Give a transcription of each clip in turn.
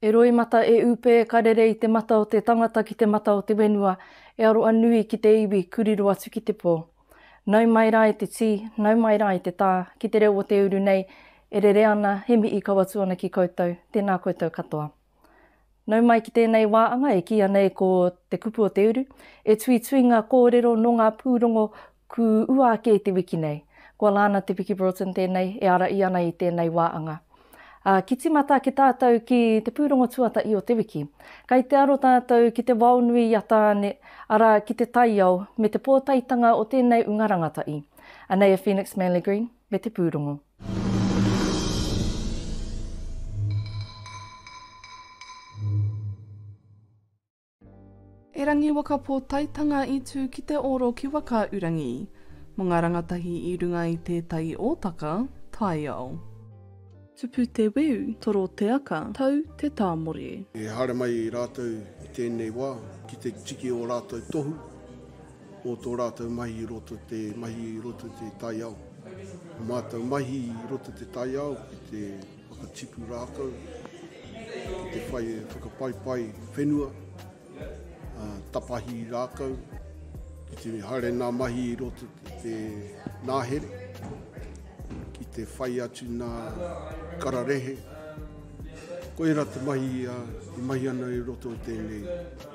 E roimata, e upe, ka rere i te mata o te tangata ki te mata o te wenua, e aroa nui ki te iwi, kuriro atu ki te po. Nau mai ra i te ti, nau mai ra i te ta, ki te reo o te uru nei, e rere ana, he mihi kaw atu ana ki koutou, tena koutou katoa. Nau mai ki tēnei wā anga e kīia nei ko Te Kupu o te Uru, e tuitui ngā kōrero nō ngā pūrongo kū ua ake i te wiki nei. Ko Alana Te Piki Broughton tēnei e ara i ana i tēnei wā anga. Ā, ki tīmata ake tātou ki te pūrongo tuatahi o te wiki. Kai te aro tātou ki te wao nui i a Tāne, arā, ki te taiao me te pōtaetanga o tēnei unga rangatahi. Anei a Phoenix Manley Green. me te pūrongo. Erangi waka pōtaetanga i tū ki te oro ki Whakaurangi, mō ngā rangatahi i runga i tētahi ōtaka, taiao. Tupu te weu, toro te aka, tau te tāmore. Ehara mai rātou i tēnei wā ki te tiki ō rātou tohu. o tō rātou mahi i roto te mahi i roto te taiao. O mātou mahi i roto te taiao ki te whakatipu rākau, ki te whai e whakapaipai whenua, a, tapahi rākau, ki te haere nā mahi i roto te, te nāhere, ki te whai atu nā kararehe. Koira te mahi a, i mahi ana i roto o tēnei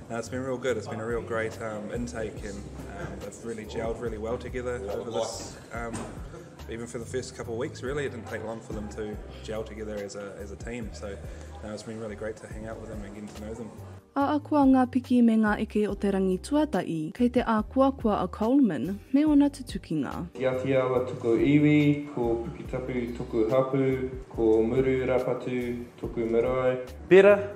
No, it's been real good. It's been a real great um, intake, and um, they've really gelled really well together over this. Um, even for the first couple of weeks, really, it didn't take long for them to gel together as a, as a team. So no, it's been really great to hang out with them and get to know them. A akua ngā piki me ngā eke o te rangi tuatahi, kei te ākuakua a Coleman me ona tutukinga. Ki a ki awa tuku iwi, ko Puketapu toku hapu, ko Muru Rapatu toku marae. Bera,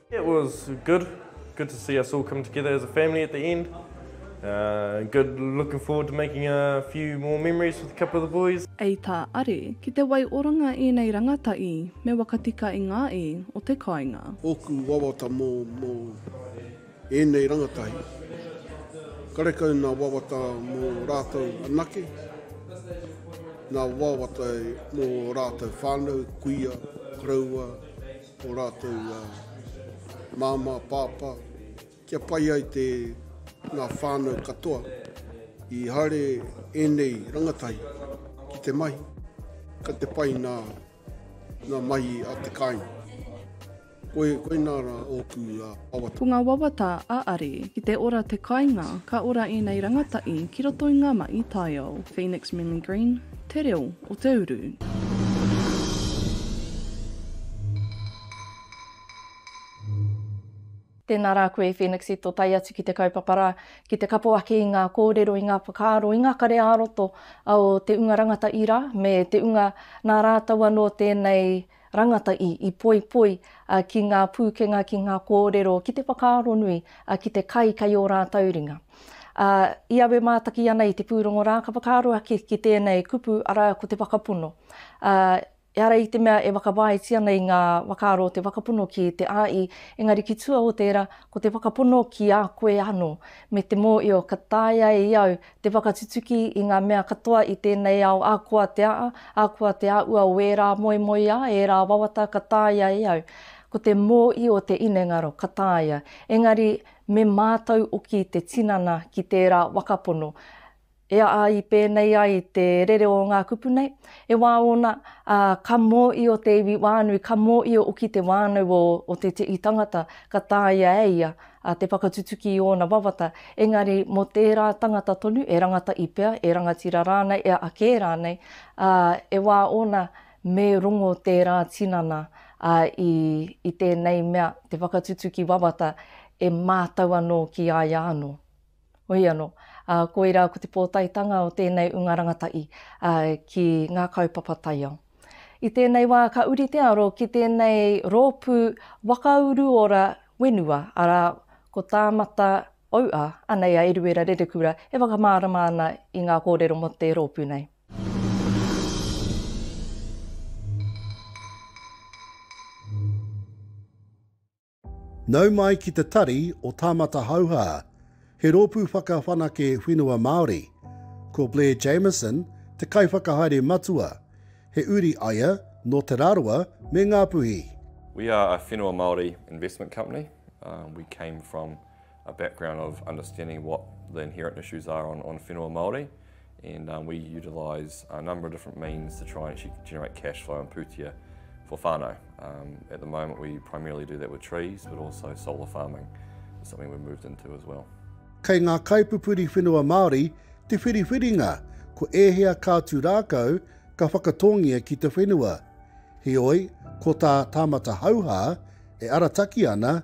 It was good, good to see us all come together as a family at the end, good looking forward to making a few more memories with a couple of the boys. Ei tā Are, ki te waioranga ēnei rangataī me wakatika i ngā ī o te kāinga. Ōku wawata mō ēnei rangatahi, karekau nā wawata mō rātou anake, nā wawata mō rātou whānau, kuia, koroua, o rātou māmā, pāpā, kia pai ai te ngā whānau katoa i haere ēnei rangatahi ki te mahi, ka te pai nā, nā mahi a te kāinga. Koe, koe nā rā ōku uh, wawata. Ko ngā wawata a Ari, ki te ora te kāinga, ka ora ēnei rangatahi ki roto i ngā mahi taiao. Phoenix Memory Green. Te reo o te uru. Tēnā rā koe Phoenix i tō tae atu ki te kaupapa rā, ki te kapo ake i ngā kōrero, i ngā whakaaro, i ngā kare ā-roto o te unga rangata ira me te unga nā rātou anō tēnei rangatahi i poipoi ki ngā pūkenga, ki ngā kōrero, ki te whakaaro nui, ki te kai kei ō rātou ringa. I awe mātaki ana i te pūrongo rā, ka whakaaro ake ki tēnei kupu, arā, ko te whakapono. Ehara i te mea e whakawāiti ana i ngā whakaaro o te whakapono ki te āi, engari ki tua o tērā, ko te whakapono ki a koe anō, me te mōhio ka taea e au Te whakatutuki i ngā mea katoa i tēnei ao ākoa te aa, ākoa te āua o ērā moemoeā, ērā wawata ka tāia e au. Ko te mōi o te inengaro ka tāia, engari me mātau oki te tinana ki tērā wakapono. E aa i pēnei ai te rere o ngā kupu nei, e wā ōna, ā, ka mōio te iwi wānui, ka mōio oki te wānau o te tii tangata ka tāia e ia, a te whakatutuki i ōna wawata, engari mō tērā tangata tonu, e rangata i pea, e rangatira rānei, e a kē rānei, ā, e wā ōna me rongo tērā tinana, ā, i, i tēnei mea, te whakatutuki wawata, e mātau anō ki a ia anō. Wei anō, ā, koirā ko te pōtaetanga o tēnei ūnga rangatahi ki ngā kaupapa taiao. I tēnei wā ka uri te aro ki tēnei rōpū whakauruora whenua, arā, ko Tāmata Auʻa, anei a Eruera Rerekura e whakamārama ana i ngā kōrero mō te rōpū nei. Nau mai ki te tari o Tāmata Hauhā, he rōpū whakawhanake whenua Māori. Ko Blair Jamieson te kaiwhakahaere matua, he uri aia nō Te Rarawa me Ngāpuhi. We are a whenua Māori investment company, we came from. a background of understanding what the inherent issues are on, on whenua Māori and um, we utilise a number of different means to try and actually generate cash flow and pūtia for whānau. Um, at the moment we primarily do that with trees but also solar farming is something we've moved into as well. Kei ngā kaipupuri whenua Māori te whiriwhiringa ko ēhea ka tū rākau ka whakatōngia ki te whenua. Heoi, ko tā Tāmata Hauhā e arataki ana,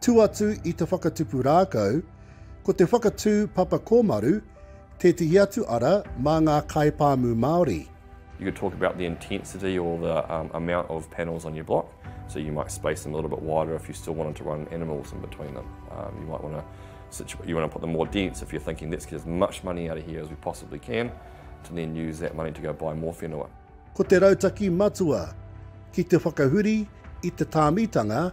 Tū atu i te whakatupu rākau, ko te whakatū papa kōmaru tētehi atu ara mā ngā kaipāmu Māori. You could talk about the intensity or the um, amount of panels on your block. So you might space them a little bit wider if you still wanted to run animals in between them. Um, you might want to situ- you want to put them more dense if you're thinking let's get as much money out of here as we possibly can to then use that money to go buy more whenua. Ko te rautaki matua ki te whakahuri i te tāmitanga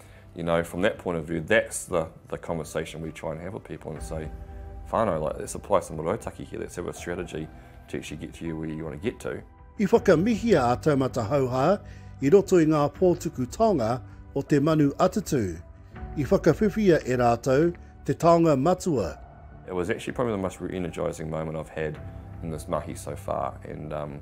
you know, from that point of view, that's the, the conversation we try and have with people and say, whānau, like, let's apply some rautaki here, let's have a strategy to actually get to you where you want to get to. I whakamihia a Taumata Hauha i roto i ngā pōtuku taonga o te manu atatū. I whakawhiwhia e rātou te taonga matua. It was actually probably the most re-energising moment I've had in this mahi so far and um,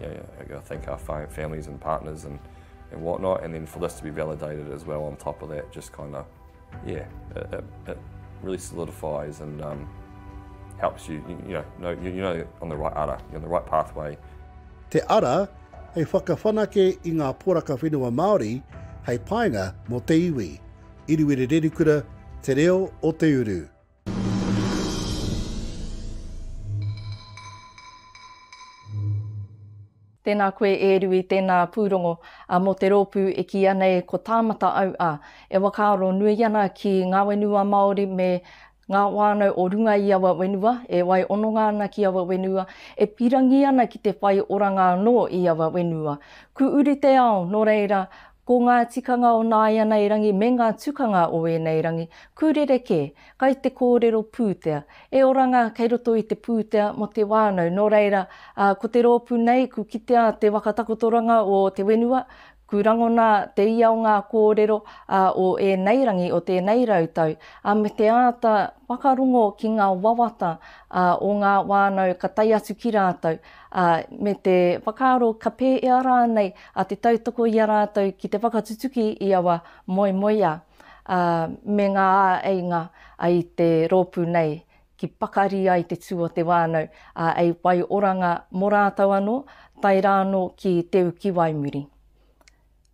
Yeah, yeah. I thank our families and partners and, and whatnot, and then for this to be validated as well on top of that, just kind of, yeah, it, it, it, really solidifies and um, helps you, you, you know, know you, you know on the right ara, you're on the right pathway. Te ara, hei whakawhanake i ngā poraka whenua Māori, hei painga mō te iwi. Iriwiri Rerikura, Te Reo o Te Uru. Tēnā koe e Rui, tēnā pūrongo mō te rōpū e kīia nei ko Tāmata au a. E whakaaro nui ana ki ngā whenua Māori me ngā whānau o runga i aua whenua, e wai ononga ana ki aua whenua, e pirangi ana ki te whai oranga anō i aua whenua. Kū uri te ao, nō reira, Ko ngā tikanga o nāianei rangi me ngā tukanga o ēnei rangi, kū rerekē, kai te kōrero pūtea. E oranga, kei roto i te pūtea mō te wānau. Nō reira, ā, ko te rōpū nei, kū kitea te waka takotoranga o te whenua, kū rangona te ia o ngā kōrero, ā, o ēnei rangi o tēnei rau tau, ā, me te āta whakarongo ki ngā wawata, ā, o ngā wānau ka tae atu ki rātou, ā, me te whakaaro ka pēhea rānei a te tautoko i a rātou ki te whakatutuki i aua moemoeā, ā, me ngā āeinga i te rōpū nei ki pakari ai te tū o te whānau, ā, hei whai oranga mō rātou anō, tae rā anō ki Te Ukiwaimuri.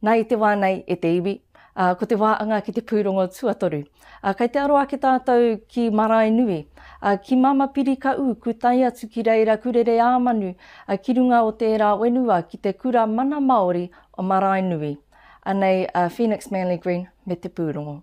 Na i te wā nei, e te iwi, ā, ko te wā anga ki te pūrongo tuatoru. Ā, kei te aro ake tātou ki Maraenui, ā, ki Mama Piri ka ū kūtai atu ki reira kurere ā manu, ā, ki runga o tērā wenua ki te kura mana Māori o Maraenui. Anei a Phoenix Manly Green me te pūrongo.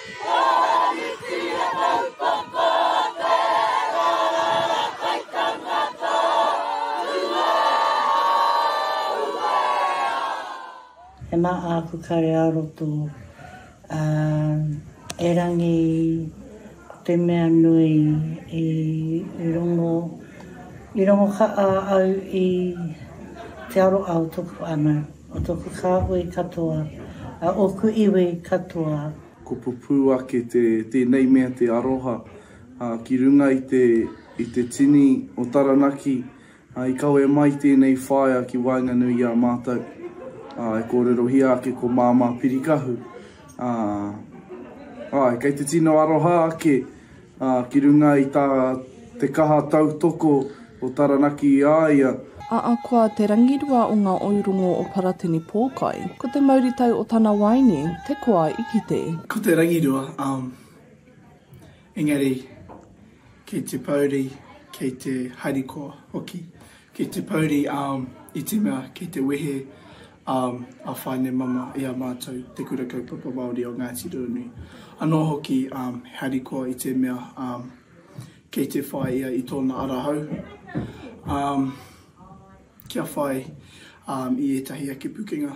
E ma aku kare a roto, a, erangi ko te mea nui i, i rongo, i rongo ka a au i te aroau toku ana. O toku kāhui katoa. A oku iwi katoa. Ko pupū ake te tēnei mea te aroha ki runga i te i te tini o Taranaki i kawe mai tēnei whaea ki waenganui i a mātou e kōrerohia ake ko Māmā Pirikahu āe kei te tino aroha ake ā, ki runga i tā te kaha tautoko o Taranaki i a ia. A Akoa te rangirua o ngā ourongo o Paratini Pōkai. Ko te mauritau o tana waeine te koa i kite. Ko te rangirua, ā, engari kei te pouri, kei te harikoa hoki. Kei te pouri, ā, i te mea kei te wehe. um, a Whainemama i a mātou Te Kura Kaupapa Māori o Ngāti Ruanui. Anō hoki um, he harikoa i te mea um, kei te whai ia i tōna arahau. Um, kia whai um, i ētahi ake pukenga.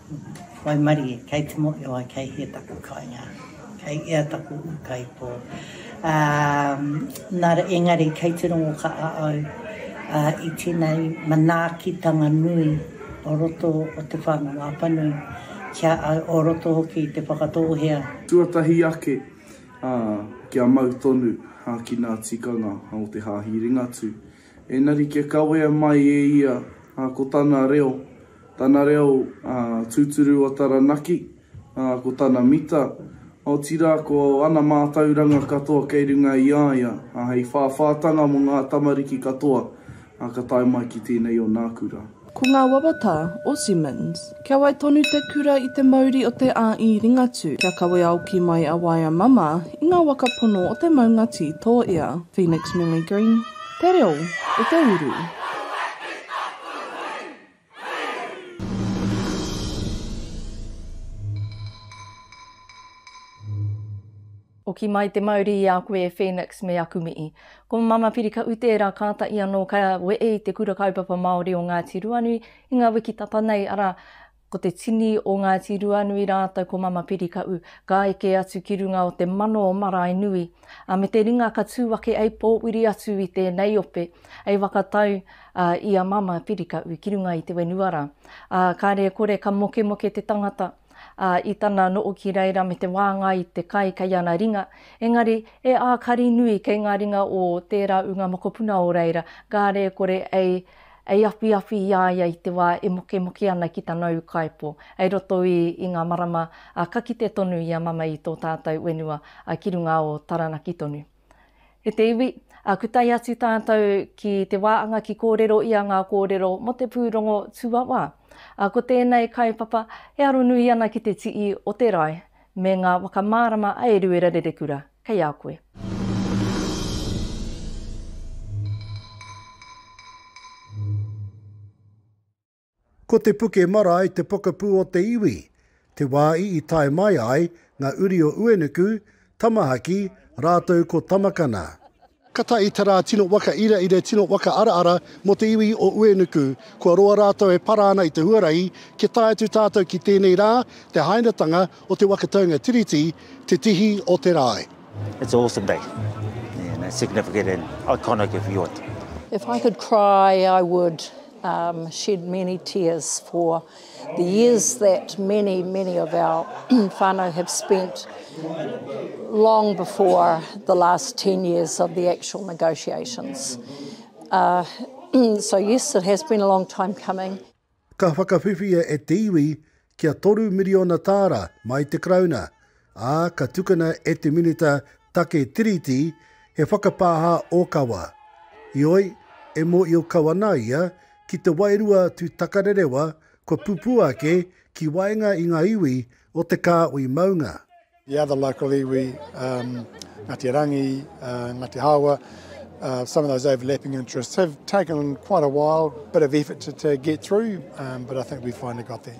Waimarie, kei te moeoi, kei hea taku kainga, kei ea taku ūkaipō. Nā reira, engari, kei te rongo ka a au i tēnei manaakitanga nui o roto o te whānau apanui ki a au, o roto hoki i te whakatōhea. Tuatahi ake, kia mau tonu ki ngā tikanga o te Hāhi Ringatū. Engari kia kawea mai e ia ko tana reo, Tana reo tūturu a Taranaki, ko tana mita, otirā ko ana mātauranga katoa kei runga i a ia, hei whāwhātanga mō ngā tamariki katoa ka tae mai ki tēnei o nāku rā. Ko ngā wawata o Simmons. Kia wai tonu te kura i te mauri o te āi Ringatū, kia kawe aoki mai a Waea Mama i ngā waka pono o te maunga tī tō ia. Phoenix Millie Green, Te Reo o te Uru. Hoki mai te mauri i a koe e Phoenix me aku mihi. Ko Mama Piri ka ute era katahi ano ka wee i te Kura Kaupapa Maori o Ngati Ruanui i nga wiki tata nei ara ko te tini o Ngati Ruanui ratou ko Mama Piri ka u ka eke atu ki runga o te mano o Maraenui. ā, me te ringa ka tū ake ei pōuri atu i tēnei ope, ei whakatau i a Mama Whirikahu ki runga i te whenua rā. Ā, kāre e kore ka mokemoke te tangata i tana noo ki reira me te wāngai i te kai kei ana ringa, engari e ākari nui kei ngā ringa o tērā ūnga mokopuna o reira, kāre e kore ei Ei awhiawhi i a ia i te wā e mokemoke ana ki tana ūkaipō, hei roto i, i ngā marama, ā, ka kite tonu i a Mama i tō tātou whenua, ā, ki runga o Taranaki tonu. E te iwi, ā, ku tae atu tātou ki te wā anga ki kōrero ia ngā kōrero mō te pūrongo tuawā. Ā, ko tēnei kaupapa e aronui ana ki te tii o te rae, me ngā whakamārama a Eruera Rerekura kei a koe. Ko Te Puke Marae te pokapū o te iwi, te wāi i tae mai ai ngā uri o Uenuku, Tamahaki, rātou ko Tamakana. Kata i te rā tino waka ira ira tino waka ara ara mo te iwi o Uenuku. Kua roa ratou e para ana i te huarahi kia tae atu tatou ki tenei rā, te hainatanga o te waka taunga Tiriti, te tihi o te rae. It's a awesome day and significant and iconic if you want. If I could cry I would shed many tears for The years that many, many of our whānau have spent long before the last 10 years of the actual negotiations. Uh, so yes, it has been a long time coming. Ka whakawhiwhia e te iwi kia toru miriona tāra mai te Karauna, ā, ka tukuna e te Minita Take Tiriti he whakapāha ōkawa. Heoi, e mōhio kau ana ia ki te wairua tū takarerewa kua pupū ake ki waenga i ngā iwi o te kāhui maunga. The other local iwi, um, Ngāti Rangi, uh, Ngāti Hāua, uh, some of those overlapping interests have taken quite a while, bit of effort to, to get through, um, but I think we finally got there.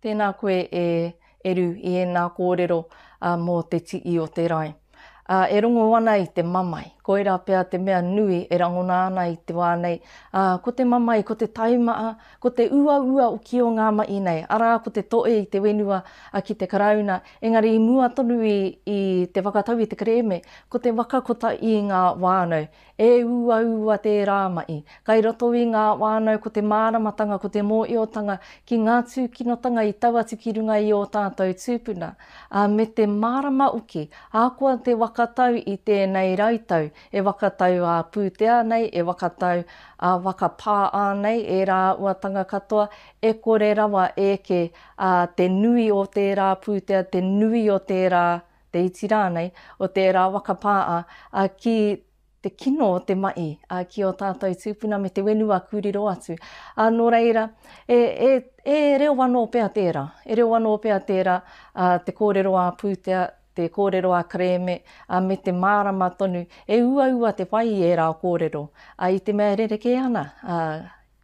Tēnā koe e Eru i ēnā kōrero mō te tii o te rae. E rongo ana i te mamae, koirā pea te mea nui e rangona ana i te wā nei, ā, ko te mamae, ko te taimaa, ko te uaua o kio ngā mahi nei, arā ko te toe i te whenua ki te Karauna, engari i mua tonu i te whakatau i te kerēme, ko te waka kota i ngā whānau. E uaua tērā mahi. Kai roto i ngā whānau ko te māramatanga, ko te mōhiotanga ki ngā tūkinotanga i tau atu ki runga i ō tātou tūpuna, ā, me te mārama hoki, ahakoa te waka tau i tēnei rau tau, e waka tau ā pūtea nei, e waka tau ā waka pā ānei, e rāuatanga katoa, e kore rawa eke ā te nui o tērā pūtea, te nui o tērā. te iti rānei, o tērā waka pā a, a ki te kino o te maʻi, a ki ō tātou tūpuna me te whenua kū riro atu. A nō reira, e, e, e reo anō pea tērā, e reo anō pea tērā a, te kōrero a pūtea, te kōrero a kerēme, a me te mārama tonu, e uaua te whai i ērā kōrero, a i te mea e rerekē ana, a,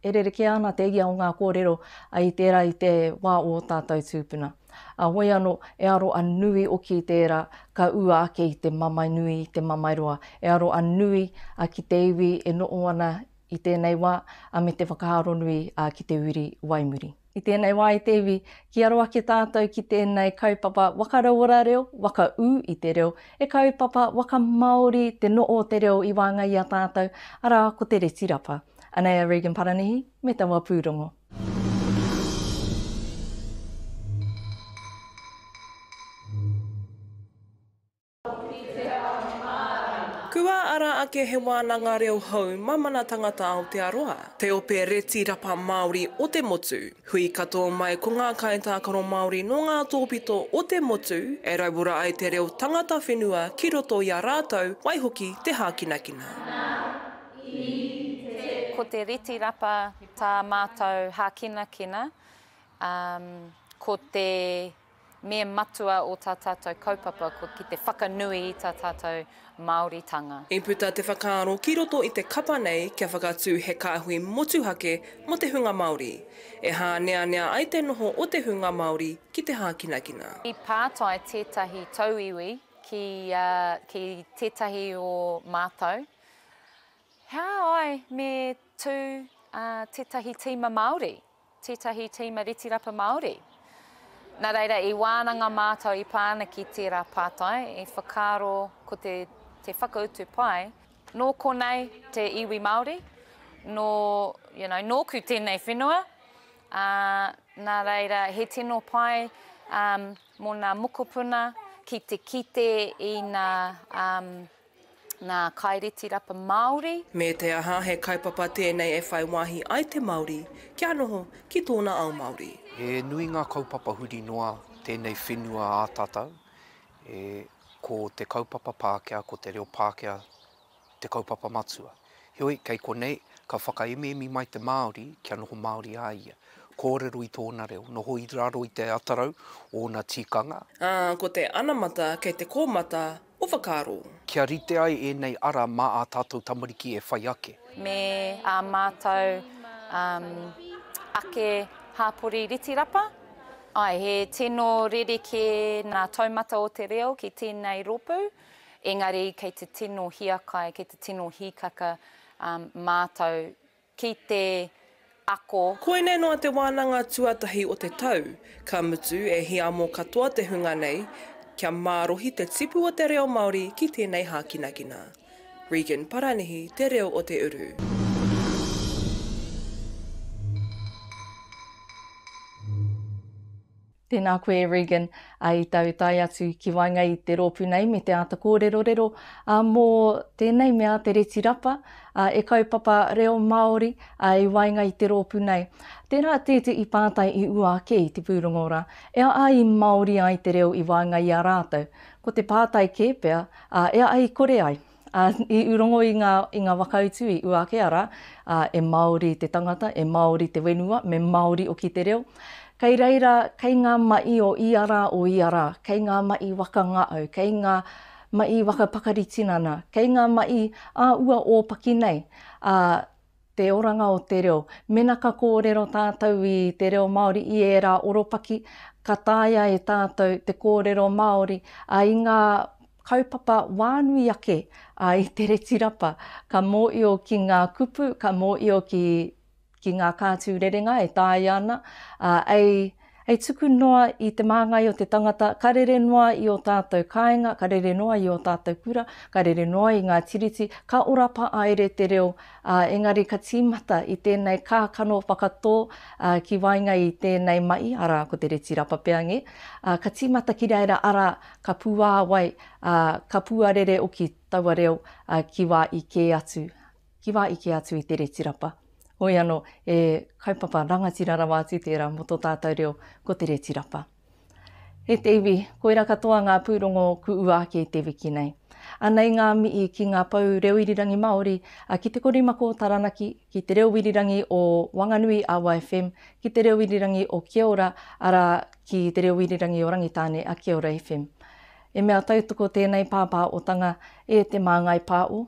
E rerekē ana te ia o ngā kōrero i tērā i te wā o ō tātou tūpuna. A wai anō, e aro a nui oki i tērā ka ua ake i te mamae nui, i te mamae roa. E aro a nui ki te iwi e noho ana i tēnei wā, a me te whakaaronui ki te uri wai muri. I tēnei wā e te iwi, ki aro ake tātou ki tēnei kaupapa wakarauora reo, waka ū i te reo, he kaupapa wakamāori te noho o te reo i waenga i a tātou, arā ko te reti rapa. Anei a Regan Paranihi me taua pūrongo. Kua ara ake he wānanga reo hou mamana tangata Aotearoa. Te Ope Reti Rapa Māori o te Motu. Hui katoa mai ko ngā kaitākaro Māori nō ngā tōpito o te motu e rauora ai te reo tangata whenua ki roto i a rātou, waihoki te hākinakina. Ko te reti rapa tā mātou hākinakina, ko te Me matua o tā tātou kaupapa ko ki te whakanui i tā tātou Māoritanga. I puta te whakaaro ki roto i te kapa nei kia whakatū he kāhui motuhake mō te hunga Māori, e hāneanea ai te noho o te hunga Māori ki te hākinakina. I pātai tētahi tauiwi ki ki tētahi o mātou, He aha ai me tū tētahi tīma Māori Tētahi tīma Retirapa Māori. Nā reira, i wānanga mātau i pā ana ki tērā pātai, i whakaaro ko te, te whakautu pai, nō konei te iwi Māori, nō, you know, nōku tēnei whenua, ā, nā reira, he tino pai um, mō ngā mokopuna ki te kite i ngā um, Ngā Kaireti Rapa Māori. Me te aha, he kaupapa tēnei e whai wāhi ai te Māori kia noho ki tōna ao Māori. He nui ngā kaupapa huri noa tēnei whenua ā tātou, e, ko te kaupapa Pākehā, ko te reo Pākehā te kaupapa matua. Heoi, kei konei, ka whakaemiemi mai te Māori kia noho Māori a ia, kōrero i tōna reo, noho i raro i te atarau o ōna tikanga. Ā, ko te anamata kei te kōmata o whakaaro. Kia rite ai ēnei ara mā ā tātou tamariki e whai ake. Me ā mātou ake hāpori ritirapa. Āe, he tino rerekē ngā taumata o te reo ki tēnei rōpū, engari kei te tino hiakai, kei te tino hīkaka mātou ki te ako. Koinei noa te wānanga tuatahi o te tau, ka mutu e hiamo katoa te hunga nei kia mārohi te tipu o te reo Māori ki tēnei hākinakina. Regan Paranihi Te Reo o te Uru. Tēnā koe Regan, ā, i tau tae atu ki waenga i te rōpū nei me te āta kōrerorero, ā, mō tēnei mea te reti rapa, ā, e kaupapa reo Māori, ā, i waenga i te rōpū nei. Tērā tētehi pātai i ua ake i te pūrongo rā, e a ai Māori ai te reo i waenga i a rātou? Ko te pātai kē pea, ā, e a ai kore ai? Ā, i urongo i ngā, i ngā wakautu i uake ara, ā, e Māori te tangata, e Māori te wenua, me Māori oki te reo. Kei reira, kei ngā maʻi o ia rā, o ia rā, kei ngā maʻi waka ngaʻau, kei ngā maʻi waka pakari tinana, kei ngā maʻi ā ua ōpaki nei, ā, te oranga o te reo. Mena ka kōrero tātou i te reo Māori i ērā oropaki, ka taea e tātou te kōrero Māori a i ngā kaupapa wānui ake a i te reti rapa, ka mōio ki ngā kupu, ka mōio ki ki ngā kātū rerenga e taea ana, a, ei, Hei tuku noa i te māngai o te tangata, ka rere noa i ō tātou kāinga, ka rere noa i ō tātou kura, ka rere noa i ngā tiriti, ka ora paāere te reo, ā, engari ka tīmata i tēnei kākano whakatō ki waenga i tēnei mahi, arā, ko te reti rapa pea ngē, ā, ka tīmata ki reira, arā, ka puāwai, ā, ka puarere oki taua reo ki wā i kē atu, Ki wā eke atu i te reti rapa. Hoi anō, e kaupapa rangatira rawa atu tērā mō tō tātou reo, ko te reti rapa. E te iwi, koira katoa ngā pūrongo ku ua ake i te wiki nei. Anei ngā mihi ki ngā pou reo irirangi Māori, a Ki Te Korimako Taranaki, ki Te Reo Irirangi o Wanganui a YFM, ki Te Reo Irirangi o Kia Ora, arā, ki Te Reo Irirangi o Rangitāne a Kia Ora FM. E mea tautoko tēnei pāpāotanga e Te Māngai Pāo,